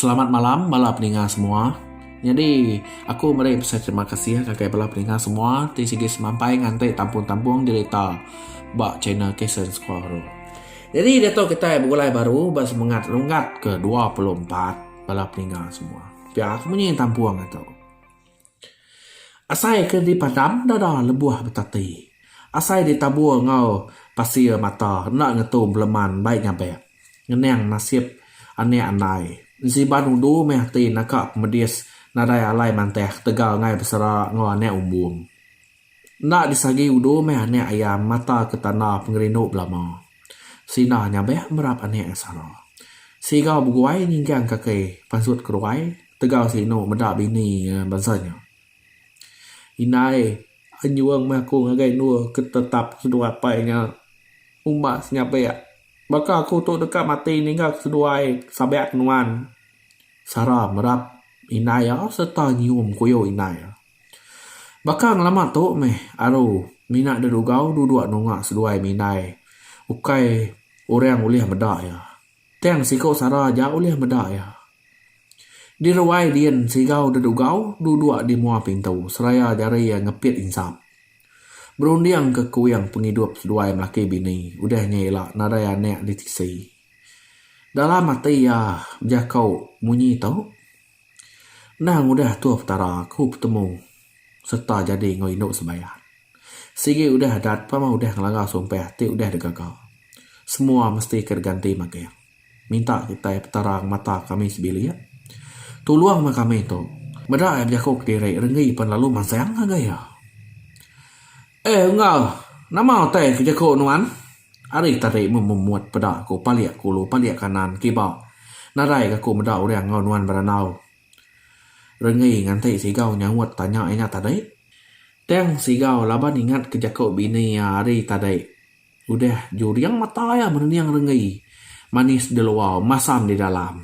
Selamat malam bala peninga semua. Nyadi aku meri besai terima kasih ngagai bala peninga semua ti sigi semampai nganti tampung-tampung dirita ba channel Kasen Sekuahoro. Nyadi diatu kitai begulai baru ba semengat runggat ke dua puluh empat bala peninga semua. Pia aku munyi tampung atu. Asai ke dipadam dada lebuh betati. Asai ditabur enggau pasir mata enda ngetu beleman bai nyabek. Ngenang nasib anak andai. Ensiban udu meh ati naka pemedis nadai alai mantah ketegal ngai besera enggau anak umbung. Enda disagi udu meh anak ayam mata ke tanda pengerindu belama. Sina nyabek merap anak ke sara. Siga beguai nyinggang kaki pansut keruai tegau si inu meda bini iya bansa nya. Indai anjung meh aku ngagai endur ke tetap seduai apai nya umbas nyabek. Baka aku tu deka mati ninggal seduai sabak nuan sara merap indai iya sereta nyium kuyuh indai iya. Baka ngelama tu meh aru mina da rugau duduk anu anga seduai ami indai ukai orang ulih meda iya tang siku sara aja ulih meda iya. Di ruai din sigau da rugau duduk di mua pintu seraya jari iya ngepit insap berunding ke kuing pengidup seduai melaki bini udah nya ila nadai anak di tisi. Dalam ati iya bejako munyi tu. Endang udah Tuhan Petara aku betemu serta jadi enggau indu sembahyang. Sigi udah adat pama udah ngelanggar sumpah ti udah digaga. Semua mesti ke diganti magang. Minta kitai Petara ngemata kami sebilik. Tulung meh kami tu. Meda ai bejaku kediri renggi pen lalu mansang ngagai iya. Eh Enggau, nama utai ke jaku nuan? Ari tadi mememut peda aku palik kulu palik kanan kiba nadai ga aku meda orang enggau nuan berandau. Renggi nganti Sigau nyaut tanya inya tadi. Tang Sigau laban ingat ke jaku bini iya ari tadi. Udah juring mata iya merening Renggi manis di luar masam di dalam.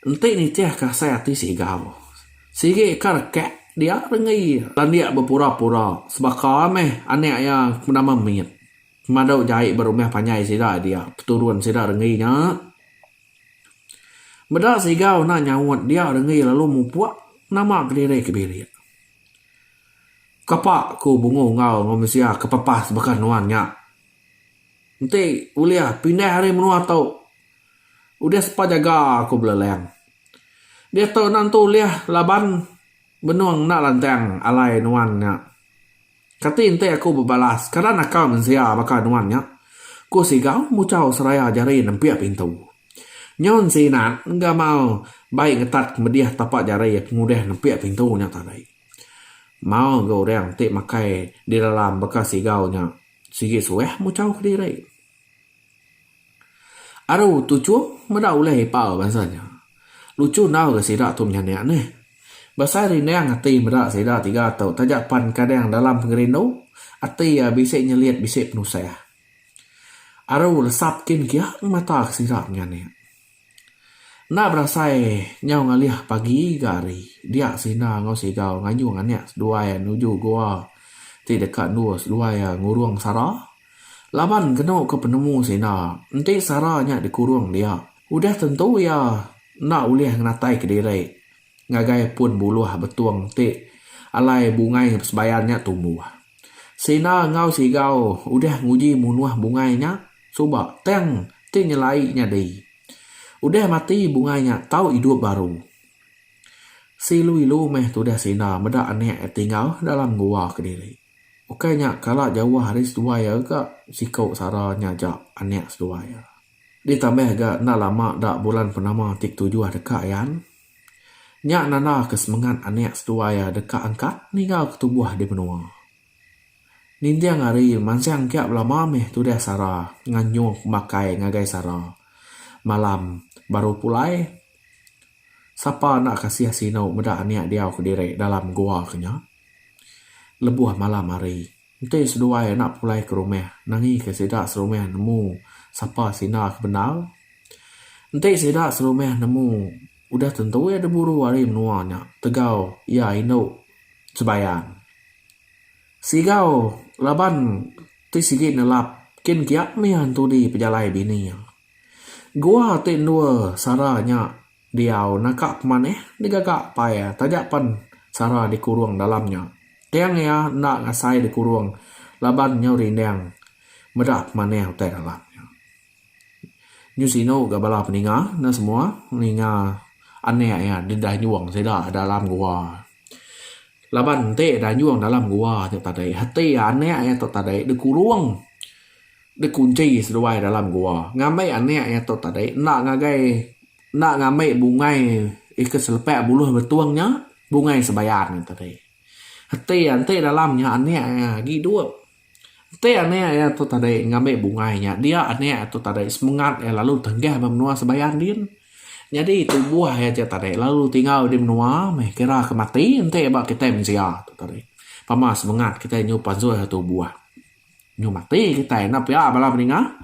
Enti nitihka asai ati Sigau, sigi ka rekak dia renggi landik bepura-pura sebaka meh anak iya ke nama Mit pemadu jai ba rumah panjai sida dia peturun sida renggi nya. Meda Sigau enda nyaut dia renggi lalu mupuk nama kediri ke bilik. Kapa ku Bungu enggau Enggau Mensia ke pepas baka nuan nya. Enti ulih pindah ari menua tu. Udah sepa jaga aku beleleng. Diatu enda nentu ulih laban benung enda lantang alai nuan nya. Kati enti aku bebalas kada naka mensia baka nuan nya? ku Sigau muchau seraya jari nempik pintu. Nyaun Sinat gamal bai ngetat medih tapa jari pengudah nempik pintu nya tadi. Mau ga orang ti makai di dalam baka Sigau nya sigi suah muchau kediri. Aru tu Chung meda ulih ipar bansa nya. Lucu enggau ga sida tu menyanik neh. Besai rindang ati meda sida tiga tu taja pan kadang dalam pengerindu ati iya bisi nyelit bisi penusah. Aru lesap kin kiah ngemata ke sida menyanik. Enda berasai nyau ngalih pagi ga hari, dia Sina enggau Sigau ngayung anak seduai iya nuju gua ti deka endur seduai iya ngurung Sara. Laban kenu ke penemu Sina, enti Sara nya dikurung dia, udah tentu iya enda ulih ngenatai kediri Ngagai pun buluh betung ti alai bungai sebayan nya tumbuh. Sina enggau Sigau udah nguji munuh bungai nya suba tang ti nyelai nyadi. Udah mati bungai nya tau idup baru. Seilu-ilu meh tudah sina meda anak iya tinggal dalam gua kediri. Ukai nya kala jauh ari seduai iya ga siku sara nya aja anak seduai iya. Ditambah ga enda lama da bulan purnama ti ketujuh deka ayan. Nya nandaka semengat anak seduai iya deka angkat niga ke tubuh di menua. Ninting hari mansang kia belama mih tudah sara nganyuk makai ngagai sara. Malam baru pulai. Sapa enda kasih sinu meda anak diau kediri dalam gua ke nya. Lebuh malam hari. Enti seduai anak pulai ke rumah, nangika sida serumah nemu sapa sindar ke bendar? Enti sida serumah nemu, udah tentu iya diburu ari menua nya tegau iya indu Jebayan. Sigau laban ti sigi nelap kin kiak mih entudi pejalai bini iya. Gua ti endur sara nya Diau naka pemanih digaga pai taja pen Sara dikurung dalam nya. Tang iya enda ngasai dikurung laban nyau rindang meda pemanih utai dalam nya. Nyu sinu ga bala peninga ne semua ninga anak iya didanjung sida dalam gua. Laban enti danjung dalam gua nya tadi hati anak iya tu tadi dikurung. Dikunchi seduai dalam gua. Ngambi anak iya tu tadi enda ngagai enda ngambi bungai ika selepak buluh betung nya, bungai sebayan nya tadi. Enti enti dalam nya anak iya agi idup. Enti anak iya tu tadi ngambi bungai nya, dia anak iya tu tadi semengat iya lalu tanggah ba menua sebayan din. Nyadi tubuh iya tu tadi lalu tinggal di menua meh kira ke mati enti ba kitai mensia tu tadi. Pama semengat kitai nyup ansuh tubuh. Nyu mati kitai enda pia bala meninga.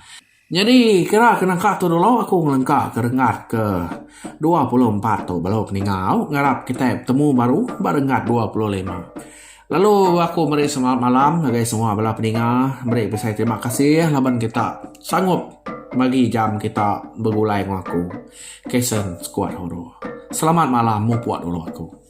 Nyadi kira ke nangka tu dulu aku ngelengka ke renggat ke dua puluh empat tu balu keninga au ngarap kitai betemu baru ba renggat dua puluh lima. Lalu aku meri selamat malam ngagai semua bala peninga meri besai terima kasih laban kita sangup bagi jam kita begulai enggau aku. Kason skuad Horo. Selamat malam mupuk dulu aku.